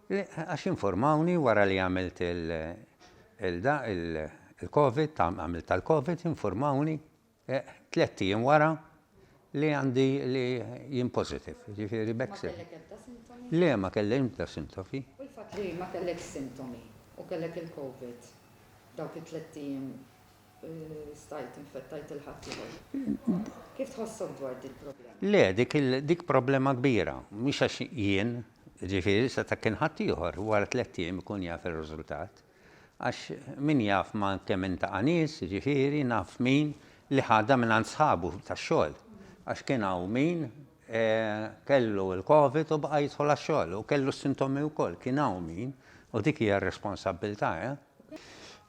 Għax informawni wara li għamilt il-Covid, għamilt tal-Covid, informawni eh, tletti jien wara li għandi li jien positif, ġifiri bekse. Le, ma kellek ta' sintomi. U l-fat li ma kellek sintomi u kellek il-Covid, dawk it-tletti jien Stajt infettajt lil ħaddieħor. Kif tħossok dwar dil-problema? Le, dik problema kbira. Mhux għax jien, jiġifieri sa ta' kien ħaddieħor, wara tlett ijiem ikun jaf ir-riżultat. Għax min jaf ma' kemm intaqa' nies, jiġifieri naf min li ħadha mingħand sħabu tax-xogħol. Għax kien hawn min kellu l-Covid u baqa' jidħol għax-xogħol u kellu s-sintomi wkoll. Kien hawn min, u dik hija r-responsabbiltà, eh.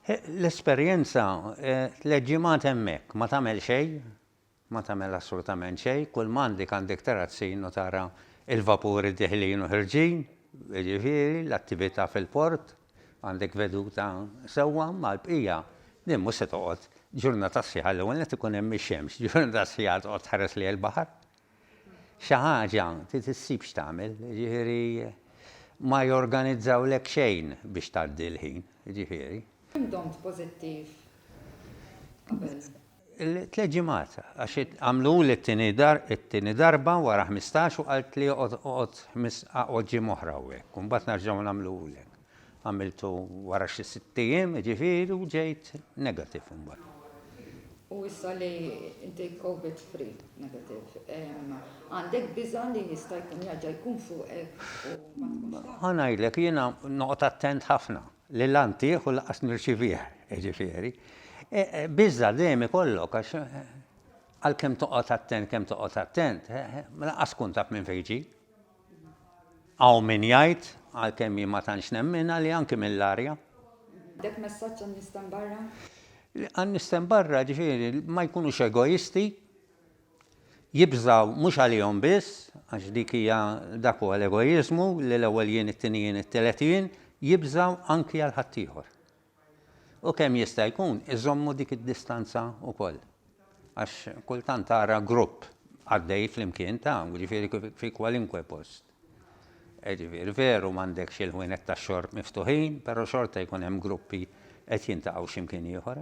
L-esperjenza, tliet ġimgħat hemmhekk, ma tagħmel xejn, ma tagħmel assolutament xejn, kull ma għandek għandek tara s-sin u tara l-vapuri deħlin u ħerġin, jiġifieri l-attività fil-port, għandek veduta sewwa, ma l-bqija, din mhux se toqgħod ġurnata sħiħa, l-ewwel nett ikun hemm ix-xemx, ġurnata sħiħa toqgħod tħares lejn il-baħar? Xi ħaġa trid issib x'tagħmel, jiġifieri ma jorganizzawlek xejn biex tgħaddi l-ħin, jiġifieri. Kemm domt pożittiv qabel? Tliet ġimgħat, għax għamluli t-tieni darba wara ħmistax u qaltli oqgħod ġimgħa oħra hawnhekk u mbagħad nerġgħu nagħmluhulek. Għamiltu wara xi sitt ijiem, jiġifieri, u ġejt negative imbagħad. U issa li inti Covid free negative, għandek biża' li jista' jkun jerġa' jkun fuqek u ma tkunx taf? Ħa ngħidlek, jiena noqgħod attent ħafna li la ntieh u lanqas nirċivih, jiġifieri. Biża' dejjem ikollok għax għalkemm toqgħod attent kemm toqgħod attent, lanqas tkun taf minn fejn ġie. Hawn min jgħid, għalkemm jien ma tantx nemminha, li anki mill-arja. Dek messaġġ għan-nies t'hemm barra? Għan-nies t'hemm barra, ġifieri, ma jkunux egoisti, jibżgħu mhux għalihom biss, għax dik hija, dak huwa l-egoiżmu, li l-ewwel jien, it-tieni jien, it-tielet jien, jibżgħu anki għal ħaddieħor. U kemm jista' jkun iżommu dik id-distanza wkoll. Għax kultant tara grupp għaddej flimkien ta' jiġifieri fi kwalinkwe post. Jiġifieri veru m'għandekx il-ħwienet tax-xorb miftuħin, però xorta jkun hemm gruppi qed jintaqgħu xi mkien ieħor.